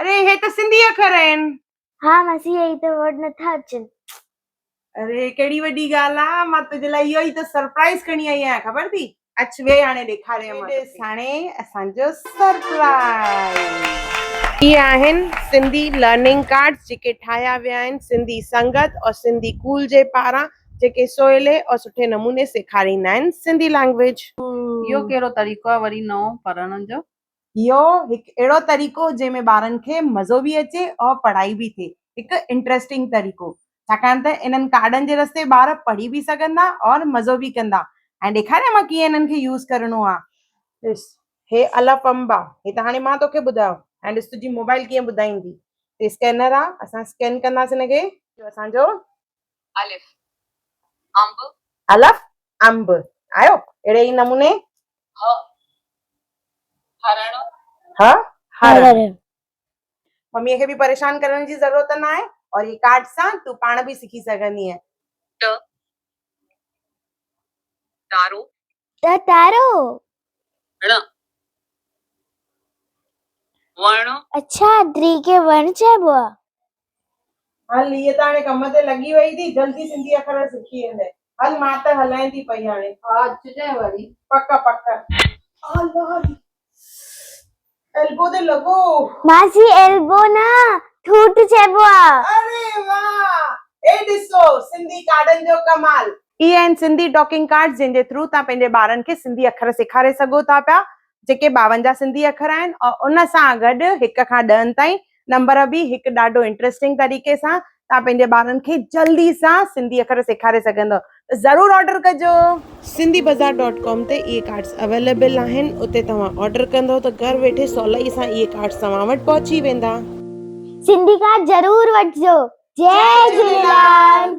اري هي ته سنڌي اکر آهن. ها ماسي اهي ئي ته ورڊ نٿا اچن. اري ڪهڙي وڏي ڳالهه آ مان تنهنجي لاء اهو ئي ته سرپرائيز کڻي آئي آهيان خبر ٿي اچ ويهه هاڻي ڏيکاريان مان ڏس هاڻي اسان جو سرپرائيز. هي آهن سنڌي لرننگ ڪارڊز جيڪي ٺاهيا ويا آهن سنڌي سنگت اور سنڌي ڪول جي پاران جيڪي سولي اور سٺي نموني سيکاريندا آهن سنڌي لينگويج. اهو ڪهڙو طريقو آ وري نئون پڙهڻ جو. اهو هڪ اهڙو طريقو جنهن ۾ ٻارن کي مزو به اچي ۽ پڙهائي به ٿئي هڪ انٽرسٽنگ طريقو ڇاڪاڻ ته انهن ڪارڊن جي رستي ٻار پڙهي به سگهندا ۽ مزو به ڪندا هاڻي ڏيکاريان مان ڪيئن انهن کي يوز ڪرڻو آ ڏس هي الفنب آ هي ته هاڻي مان توکي ٻڌايو هاڻي ڏس تنهنجي موبائل ڪيئن ٻڌائيندي هي اسڪينر آ اسان اسڪين ڪنداسين هن کي جو اسان جو الف انب آيو اهڙي ئي نموني ه هرڻ. مميء کي به پريشان ڪرڻ جي ضرورت ناهي اور هي ڪارڊ سان تون پاڻ به سکي سگهندينء. ٽ ٽارو ڏ تارو ڙ وڻ اڇا ادري کي وڻ چئبو آ. هل هيء ته هاڻي ڪم تي لڳي وئي ٿي جلدي سنڌي اکر سکي ويندي هل مان ته هلان ٿي پئي هاڻي. ها اچجانء وري. پڪ پڪ. آ لاري. ايلبو تي لڳو. ماسي ايلبو نه ٺوٺ چئبو آ. اري واه اي ڏسو سنڌي ڪارڊن جو ڪمال. اهي آهن سنڌي ٽاڪنگ ڪارڊز جنهن جي ٿرو توهان پنهنجي ٻارن کي سنڌي اکر سيکاري سگهو ٿا پيا جيڪي ٻاونجاهه سنڌي اکر آهن ۽ ان سان گڏ هڪ کان ڏهن تائين نمبر به هڪ ڏاڍو انٽرسٽنگ طريقي سان تان پنهنجي ٻارن کي جلدي سان سنڌي اکر سيکاري سگهندو ضرور آرڊر ڪجو سنڌي بازار ڊاٽ ڪام تي اهي ڪارڊس اويليبل آهن اتي توهان آرڊر ڪندو ته گهر ويٺي سولائي سان اهي ڪارڊس توهان وٽ پهچي ويندا سنڌي ڪارڊ ضرور وٺجو جي جهليلال